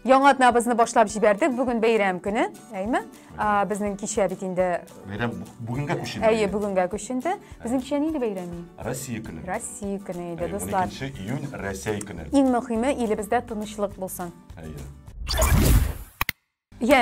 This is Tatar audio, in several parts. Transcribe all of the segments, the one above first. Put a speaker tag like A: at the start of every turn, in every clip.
A: Яңа атнабызны башлап җибәрдек. Бүген бәйрәм көне, әйме? Безнең кичә бит инде Бәйрәм бүгенгә
B: күченде. Әйе, бүгенгә күченде.
A: Безнең кичә нинди бәйрәм? Россия көне. Россия
B: көне иде,
A: дуслар. 12 июнь Россия
B: көне. Иң мөһиме, илебездә
A: тынычлык булсын. Әйе. Йә,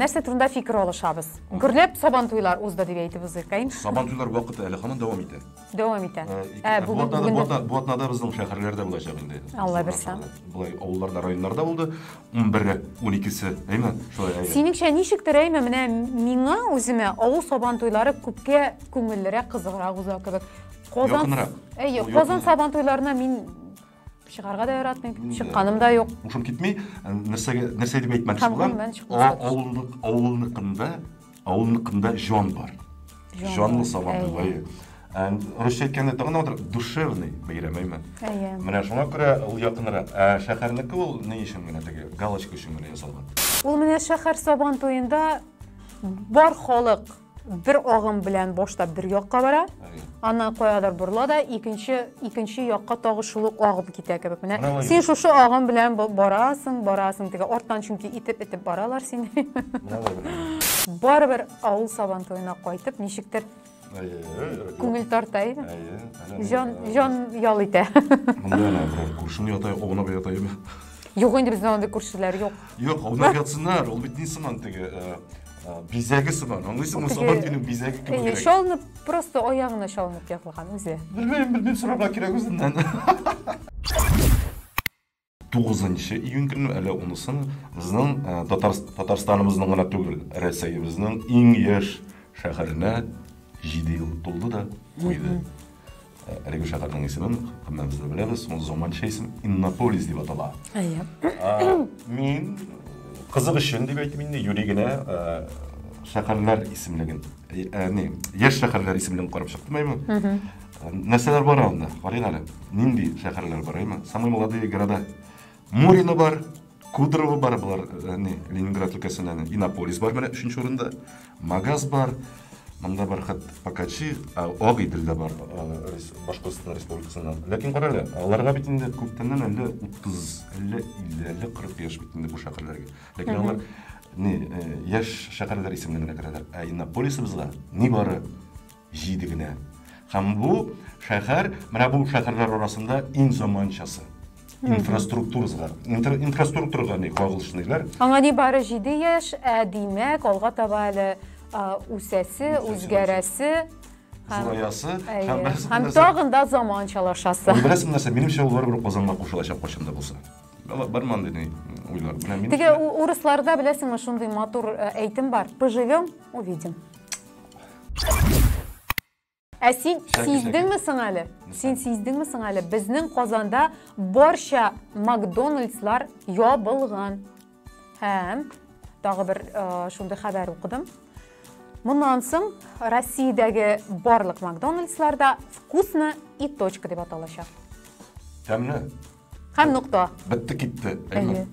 A: нәрсә турында фикер алышабыз? Гөрләп сабан туйлар узды дип әйтеп узыйк, әйме? Сабан туйлар вакыты әле
B: һаман дәвам итә. дәвам итә.
A: Ә, бу бүгенге атнада, бу көндә- атна-
B: бу атнада безнең шәһәрләрдә булачак инде. Алла бирса.
A: Болай авылларда,
B: районнарда булды. 11-е, 12-се, әйме? Шулай, әйе. Синеңчә ничектер
A: әйме, менә миңа үземә авыл сабан туйлары күпкә күңеллерәк, кызыграк уза кебек. Казан Якынрак. Әйе, Ул Казан якын. сабан туйларына мин чыгарга да яратмыйм чыкканым да юк ушым китми э, нәрсәгә
B: нәрсә дип әйтмәкче булам авыллык авылныкында авылныкында җан бар җанлы сабан бәйрәме э, русча әйткәндә тагын отыр душевный бәйрәм әйме менә шуңа
A: күрә ул
B: якынрак ә шәһәрнеке ул ни өчен генә теге галочка өчен генә ясалган ул менә шәһәр
A: сабан туенда бар халык бер агым белән башта бер якка бара, аннан каядыр борыла да икенче икенче якка тагы шул ук агып китә кебек. Менә син шушы агым белән барасың, барасың теге арттан чөнки итеп итеп баралар сине. Барыбер авыл сабан туена кайтып ничектер күңел тарта иде. Җан җан ял итә. Монда ана
B: күршене ята, аунап ята иде. Юк инде бездә
A: андый күршеләр юк. Юк, аунап ятсыннар,
B: ул бит ни сыман теге ә, бизәге сыман аңлыйсыңмы сабан туеның бизәге кебек Әйе, чалынып просто
A: аягына чалынып ягылган үзе белмейм белмейм сорарга
B: кирәк үзеннән тугызынчы июнь көне әле онысын безнең ә, татарстаныбызның гына түгел рәсәебезнең иң яшь шәһәренә җиде ел тулды да куйды Әлеге шәһәрнең исемен кемнән без беләбез, ул заманча исем Иннополис дип атала. Әйе.
A: Мин
B: кызык өчен дип әйтим инде, юри генә шәһәрләр исемлеген, яни яшь шәһәрләр исемлеген карап чыктым әйме. Нәрсәләр бар анда? Карыйк әле. Нинди шәһәрләр бар әйме? Самые молодые города. Мурино бар, Кудрово бар, болар э, не, Ленинград өлкәсеннән. Иннополис бар менә өченче урында. Магаз бар. Монда бар хат Пакачи, Ак Идел дә бар, Башкортстан Республикасыннан. Ләкин кара әле, аларга бит инде күптәннән әллә 30, әллә 50, әллә 40 яшь бит инде бу шәһәрләргә. Ләкин алар не, э, яшь шәһәрләр исемлегенә керәләр. Ә Иннополисыбызга ни бары Җиде генә. Һәм бу шәһәр, менә бу шәһәрләр арасында иң заманчасы. Инфраструктурага, инфраструктурага ни кагылышлыйлар. Аңа ни бары җиде
A: яшь, ә димәк, алга таба әле үсәсе, үзгәрәсе, зураясы һәм һәм тагын да заманчалашасы. Беләсең нәрсә, минемчә,
B: ул барыбер Казанга кушылачак кайчан да булса. Бар монда ни уйлар. Теге
A: урысларда беләсеңме шундый матур әйтем бар, поживем, увидим. Ә син сиздеңме соң әле? Син сиздеңме соң әле? Безнең Казанда барча Макдональдслар ябылган. Һәм тагы бер э, шундый хәбәр укыдым. Моннан соң Россиядәге барлык Макдональдсларда вкусно и точка дип аталачак. Тәмле.
B: Һәм
A: нокта. Бетте китте.
B: Әйе.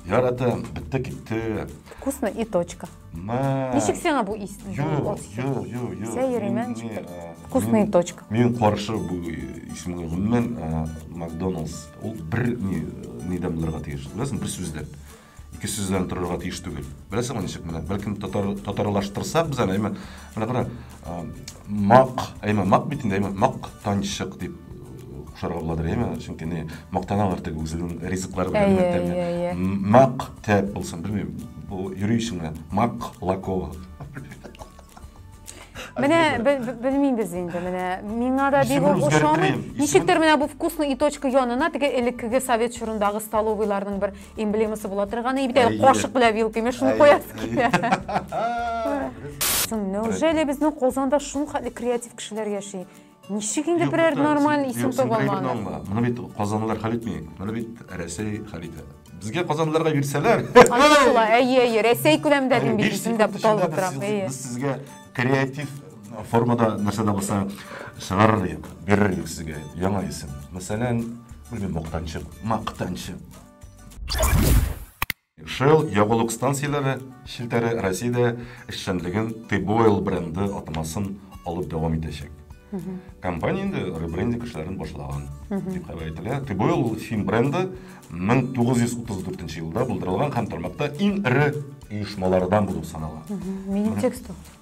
B: Яратам, бетте китте. Вкусно и точка.
A: Мә. Ничек сиңа бу ис? Юк, юк,
B: юк, юк. Сәер
A: имән читер. Вкусно и точка. Мин каршы бу
B: исемгә гомумән Макдоналдс. Ул бер ни нидән булырга тиеш. Беләсең, бер сүздән. Ике сүздән торырга тиеш түгел. Беләсеңме ничек менә? Бәлкем татар татарлаштырсак без аны, әйме? Менә кара, мак, әйме, мак бит инде, әйме, мак танчык дип кушарга буладыр, әйме? Чөнки не мактаналар теге үзенең ризыклары белән тәмле. Мак тәп булсын, белмим. Бу юри өчен генә. Мак лакова. Менә белмим без
A: инде, менә миңа да бик үк ошамый. Ничектер менә бу вкусный и точка янына теге элеккеге совет чорындагы столовыйларның бер эмблемасы була торган, и бит кашык белән вилка, мен шуны куясы килә. Неужели безнең Казанда шул хәтле креатив кешеләр яши? Ничек инде берәр нормаль исем таба алмадың? Моны бит казанлылар
B: хәл итми. Моны бит Рәсәй хәл итә. Безгә казанлыларга бирсәләр. Аңлашыла, әйе,
A: әйе, Рәсәй күләмендә мин бит исемдә буталып торам. Без сезгә
B: креатив формада нәрсә дә булса чыгарыр идек, бирер идек сезгә яңа исем. Мәсәлән, белмим, мактанчы, мактанчы. Shell ягулык станцияләре челтәре Россиядә эшчәнлеген T-Boil бренды атамасын алып дәвам итәчәк. Компания инде ребрендинг эшләрен башлаган, дип хәбәр ителә. T-Boil ул фин бренды, 1934 елда булдырылган һәм тармакта иң эре оешмалардан булып санала. Минитексту.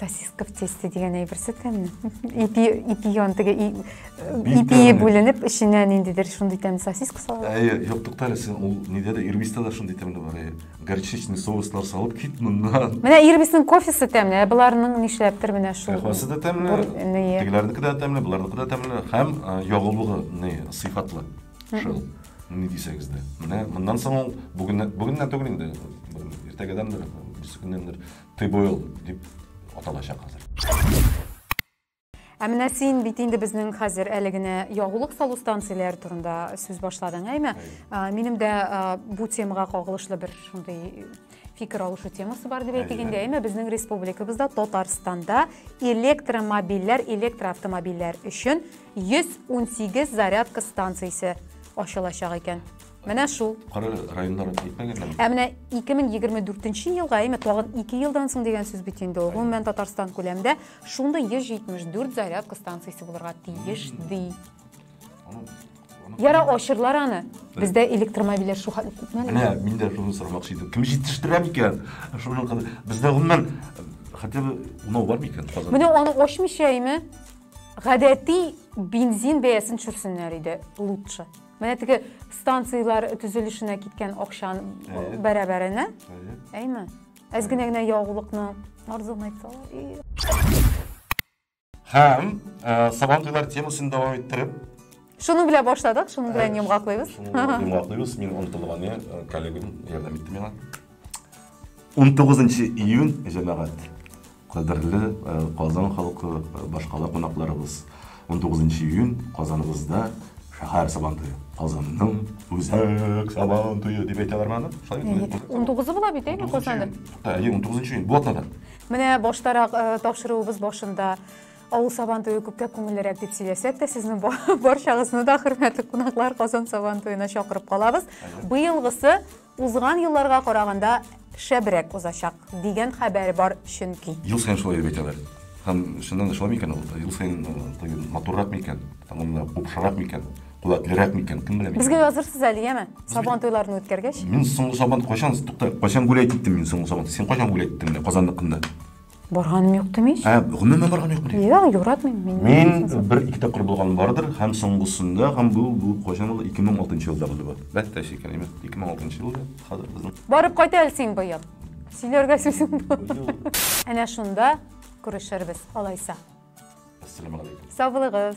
A: сосиска в тесте дигән әйберсе тәмле ипи ипи ян теге ипие бүленеп эченә ниндидер шундый тәмле сосиска салалар әйе юк тукта әле син
B: ул нидә дә ирбиста да шундый тәмле бар әйе горчичный соуслар салып кит моннан менә ирбиснең кофесы
A: тәмле ә боларның нишләптер менә шул кофесы да тәмле
B: тегеләрнеке дә тәмле боларныкы да тәмле һәм ягулыгы не сыйфатлы шул ни дисәгез дә менә моннан соң ул бүгеннән түгел инде иртәгәдәндер берсе көннәндер Тибойл дип аталачак хәзер.
A: Ә менә син бит инде безнең хәзер әле генә ягулык салу станцияләре турында сүз башладың, әйме? Минем дә бу темага кагылышлы бер шундый фикер алышу темасы бар дип әйтик инде, әйме? Безнең республикабызда Татарстанда электромобильләр, электроавтомобильләр өчен 118 зарядка станциясе ачылачак икән. Менә шул. Кары районнар дип
B: әйтмәгән әле. Ә менә
A: 2024 елга, әйме, тагын 2 елдан соң дигән сүз бит инде ул. Гомумән Татарстан күләмендә шундый 174 зарядка станциясе булырга тиеш ди. Яра ачырлар аны. Бездә электромобильләр шул хәтле күпме? Менә мин дә шуны сорамакчы
B: идем. Кем җитештерә микән? Шуны бездә гомумән хотя бы унау бар микән Казанда? Менә аны ачмыйча,
A: әйме? Гадәти бензин бәясен төшерсеннәр иде лучше. Менә теге станцияләр төзелешенә киткән акчан бәрабәренә. Әйме? Әз генә генә ягулыкны арзан айтсалар.
B: Һәм сабан туйлар темасын дәвам иттереп. Шуның белән
A: башладык, шуның белән йомгаклыйбыз. Йомгаклыйбыз. Мин
B: онтылган, коллегам ярдәм итте миңа. 19 июнь җәмәгать кадерле э, казан халкы э, башкала кунакларыбыз 19 июнь казаныбызда шәһәр сабантуе казанның үзәк сабантуе дип әйтәләр аны шулай он тугызы була
A: бит әйме казанда әйе он тугызынчы июнь
B: бу атнадан менә баштарак
A: э, тапшыруыбыз башында авыл сабантуе күпкә күңеллерәк дип сөйләсәк тә сезнең барчагызны да хөрмәтле кунаклар казан сабантуена чакырып калабыз быелгысы Узган елларга караганда шәбрәк узачак, дигән хәбәр бар чөнки. Ел саен шулай дип әйтәләр.
B: Һәм чыннан да шулай микән ул? Ел саен тагын матуррак микән? Тагын да купшырак микән? Куәтлерәк микән? Кем белә микән? Безгә язырсыз әле, яме?
A: Сабан туйларын үткәргәч. Мин соңгы сабан кайчан,
B: тукта, кайчан гүләйт иттем мин соңгы сабан? Син кайчан гүләйт иттең менә Казанныкында? Барганым юк
A: дим ич. Ә, гомумән барган юкмы? дим?
B: Юк, юратмыйм мин.
A: Мин бер ике
B: тапкыр булган бардыр, һәм соңгысында, һәм бу бу кайчан булды? 2006 елда булды бу. Бәттә шикәр, имә. 2006 елда хәзер безнең. Барып кайт әле син
A: быел. Сөйләргә сүзең бар. Әнә шунда күрешербез, алайса. Ассаламу алейкум.
B: Саулыгыз.